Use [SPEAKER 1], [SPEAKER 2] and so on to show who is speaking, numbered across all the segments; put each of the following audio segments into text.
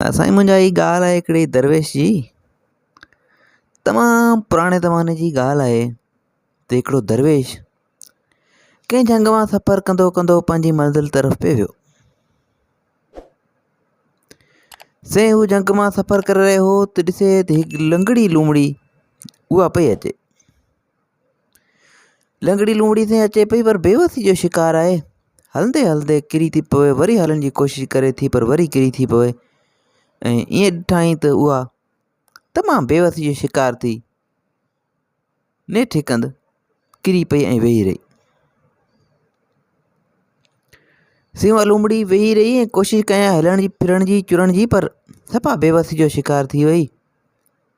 [SPEAKER 1] سائين منهنجا هي ڳالهه آهي هڪڙي درويش جي تمام پراڻي زماني جي ڳالهه آهي ته هڪڙو درويش ڪنهن جهنگ مان سفر ڪندو ڪندو پنهنجي منزل طرف پي ويو سائين هو جهنگ مان سفر ڪري رهيو هو ته ڏسي ته هڪ لنگڙي لومڙي اها پئي اچي لنگڙي لومڙي تائين اچي پئي پر بيوسي جو شڪار آهي هلندي هلندي ڪري ٿي پوي وري هلڻ جي ڪوشش ڪري ٿي پر وري ڪري ٿي پوي ۽ ائين ڏٺائين ته اها تمام بيوسي جو شڪار ٿي نيٺ هڪ هنڌ ڪري پئي ۽ ويهي رهي سيوا لومڙي ويهي رهي ۽ ڪوشش ڪيائين هلڻ جي ڦرڻ جي چرڻ جي پر سفا بيوسي جو شڪار ٿي وئي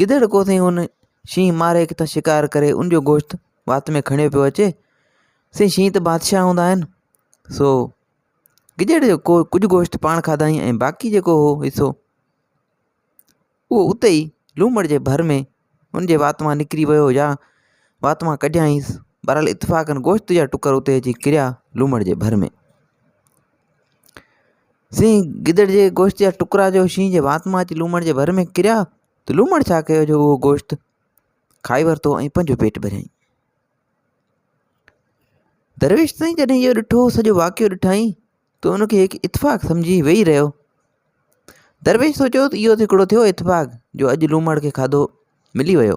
[SPEAKER 1] گدڙ ڪو سائين ان شينهن ماري ڪٿان شڪار ڪري ان جو گوشت وات ۾ کڻيو پيو اچي سائين شينهن ته بادشاهه هوندا آهن سو گدڙ جو ڪو ڪجهه گوشت پاڻ کاڌائين ۽ باقي جيڪو هو حصو اهو اتي ئي لومڙ جي ڀر ۾ ان جي وات مان نڪري ويو يا وات مان ڪڍيائينس بهرحال اتفاقن گوشت جا ٽڪر اتي اچي ڪريا لومڙ جي ڀر ۾ سين گدڙ جي گوشت جا ٽڪرا جو شينهن جي وات مان اچي لومڙ جي ڀر ۾ ڪريا ته لومڙ ڇا ڪيو جو اهو گوشت کائي ورتو ۽ پنهنجو پيٽ ڀريائين. درويش سائين جڏهن اهو ڏٺو سڄو واقعو ڏٺائين ته ان کي هڪ اتفاق سمجهي ويهي رهيو. درويش سوچيو ته اهو ته هڪڙو ٿيو اتفاق جو اڄ لومڙ کي کاڌو ملي ويو.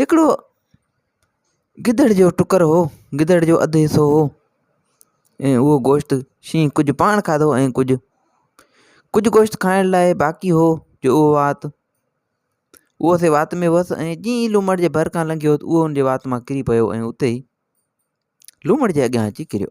[SPEAKER 1] هڪڙو گدڙ جو ٽڪر هو گدڙ جو اڌ حصو هو ۽ اهو گوشت شينهن ڪجهه پاڻ کاڌو ۽ ڪجهه ڪجهه گوشت کائڻ لاء باقي هو جو اهو وات اهو سي وات ۾ هوس ۽ جيئن ئي لومڙ جي ڀر کان لنگهيو اهو ان جي وات مان ڪري پيو ۽ اتي ئي لومڙ جي اڳيان اچي ڪريو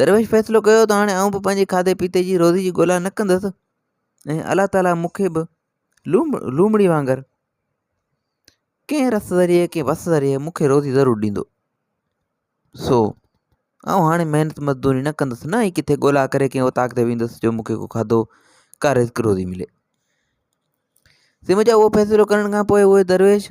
[SPEAKER 1] درويش فيصلو ڪيو ته هاڻي آئون به پنهنجي کاڌي پيتي جي روزي جي ڳولا نه ڪندس ۽ الله تعاليٰ مون کي به لوم لومڙي وانگر ڪنهن رس ذريعي ڪنهن وس ذريعي مون کي روزي ضرور ڏيندو سو آئون هاڻي محنت مزدوري نه ڪندس نه ئي ڪٿي ڳولا ڪري ڪنهن اوطاق تي ويندس جو مون کي ڪو کاڌو ڪا رزق روزي ملي سي مجا اهو فيصلو ڪرڻ کان پوء اهي درويش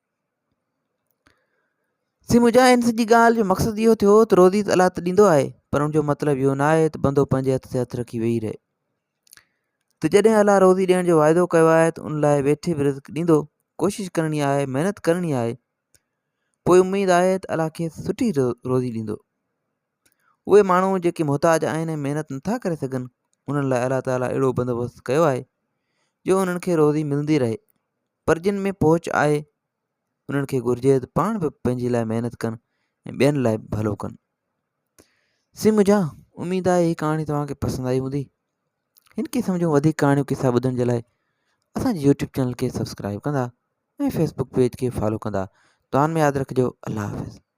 [SPEAKER 1] سي مجا ان سڄي ڳالهه جو مقصد اهو ٿيو ته روزي ته الله ته ڏيندو آهي پر ان جو مطلب اهو نه آهي ته بندو پنهنجي هٿ تي هٿ رکي ويهي رهي ته جڏهن الله روزي ڏيڻ جو واعدو ڪيو آهي ته ان لاء ويٺي به رزق ڏيندو ڪوشش ڪرڻي آهي محنت ڪرڻي آهي پوء اميد آهي ته الله کيس سٺي روزي ڏيندو اهي ماڻهو جيڪي محتاج آهن ۽ محنت نٿا ڪري سگهن انهن لاء الله تعالیٰ اهڙو بندوبست ڪيو آهي جو انهن کي روزي ملندي رهي پر جن ۾ پهچ آهي انهن کي گهرجي ته پاڻ به پنهنجي لاء محنت ڪن ۽ ٻين لاء به ڀلو ڪن سي مجھا اميد آهي هي ڪهاڻي توهان کي پسند آئي هوندي هن قسم جون وڌيڪ ڪهاڻيون قصا ٻڌڻ جي لاء اسانجي يوٽيوب چينل کي سبسڪرائب ڪندا ۽ فيسبوڪ پيج کي فالو ڪندا دعان ۾ ياد رکجو الله حافظ